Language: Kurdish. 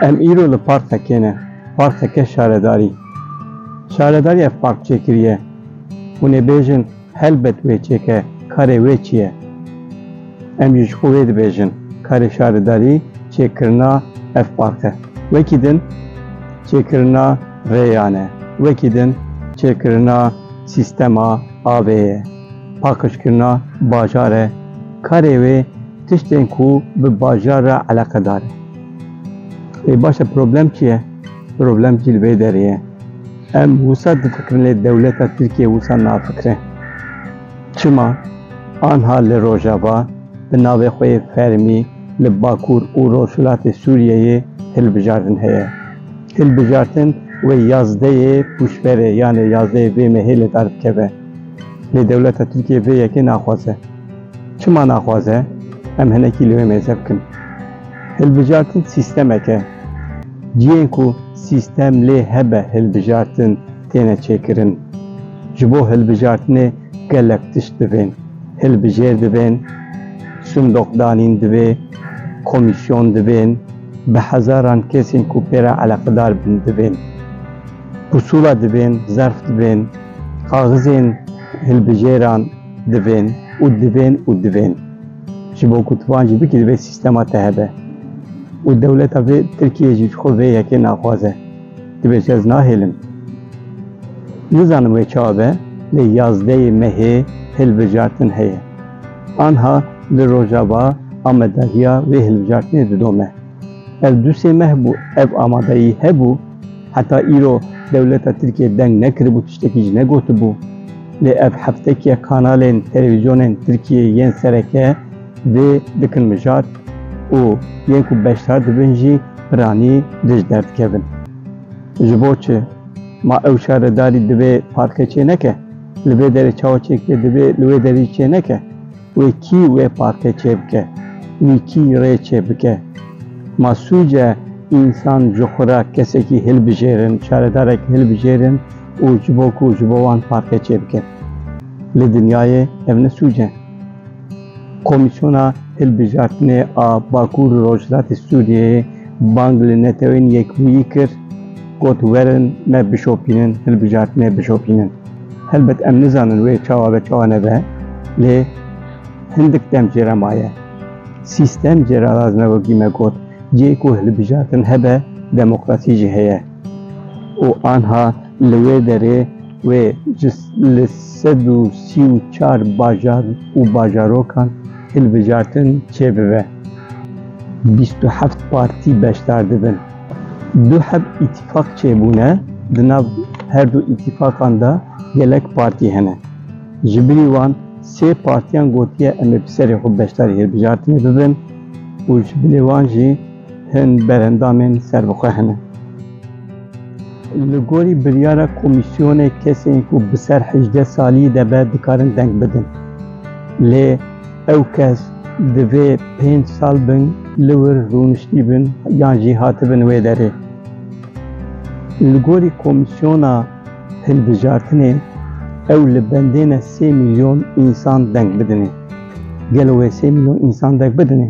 Em îro li parkekê ne, parkeke şaredarî. Şaredarî ev park çêkiriye. Hûn ê bêjin helbet wê çêke, karê wê çi ye? Em jî ji xwe wê dibêjin, karê şaredarî çêkirina ev park e. Wekî din çêkirina rêyan e, wekî din çêkirina sîstema avê ye. Pakişkirina bajar e. Karê wê tiştên ku bi bajar re eleqedar e. Ê baş e problem çi ye? Problem jî li vê derê ye. Em wisa difikirin lê dewleta Tirkiye wisa nafikire. Çima? Anha li Rojava bi navê xwe yê fermî li Bakur û Rojhilatê Sûriyeyê hilbijartin heye. Hilbijartin wê yazdeyê pûşberê yanê yazdeyê vê mehê li dar bikeve. Lê dewleta Tirkiyê vê yekê naxwaze. Çima naxwaze? Em hinekî li wê mêze bikin. Hilbijartin sîstemek e. Cihên ku sîstem lê hebe hilbijartin têne çêkirin. Ji bo hilbijartinê gelek tişt divên. Hilbijêr divên, sindoqdanîn divê, komîsyon divên, bi hezaran kesên ku pê re eleqedar bin divên. Pusula divên, zerf divên. Kaxizên hilbijêran divên û divên û divên. Ji bo ku tu van jî bikî divê sîstema te hebe. Û dewleta vê Tirkiyeyê jî ji xwe vê yekê naxwaze. Tu bêje ez nahêlim. Nizanim wê çawa be lê yazdeyê mehê hilbijartin heye. Anha li Rojava amedahiya vê hilbijartinê didome. Ev du sê meh bû ev amadeyî hebû. Heta îro dewleta Tirkiyê deng nekiribû tiştekî jî negotibû. Lê ev heftekî kanalên televîzyonên Tirkiyê yên sereke vê dikin mijar û yên ku beşdar dibin jî piranî dij derdikevin. Ji bo çi? Ma ew şaredarî divê parke çêneke? Li vê derê çawa çêkirê divê li wê derê jî çêneke? Wê kî wê partê çêbike, wî kî rê çêbike. Ma sûc e însan ji xwe re kesekî hilbijêrin, şaredarek hilbijêrin û ji bo ku ji bo wan partê çêbikin. Li dinyayê ev ne sûc e. Komîsyona Hilbijartinê a Bakur û Rojhilatê Sûriyeyê bang li Netewên Yekbûyî kir, got werin me bişopînin, hilbijartinê bişopînin. Helbet em nizanin wê çawa be çawa nebe lê hindik dem jê re maye. Sîstem jê re lazim e wekî me got cihê ku hilbijartin hebe demokrasî jî heye û anha li wê derê wê ji li sed û sî û çar bajar û bajarokan hilbijartin çêbibe. Bîst û heft partî beşdar dibin. Du heb îtîfaq çêbûne, di nav her du îtîfaqan de gelek partî hene. Ji birî wan sê partîyan gotiye em ê bi serê xwe beşdarî hilbijartinê bibin û ji bilê wan jî hin berendamên serbixwe hene. Li gorî biryara komîsyonê kesên ku bi ser hejdeh salî de be dikarin deng bidin. Lê. Ew kes divê pênc sal bin li wir rûniştî bin yan jî hatibin wê derê. Li gorî komîsyona hilbijartinê ew li bendêne sê mîlyon însan deng bidinê. Gelo wê sê mîlyon însan deng bidinê?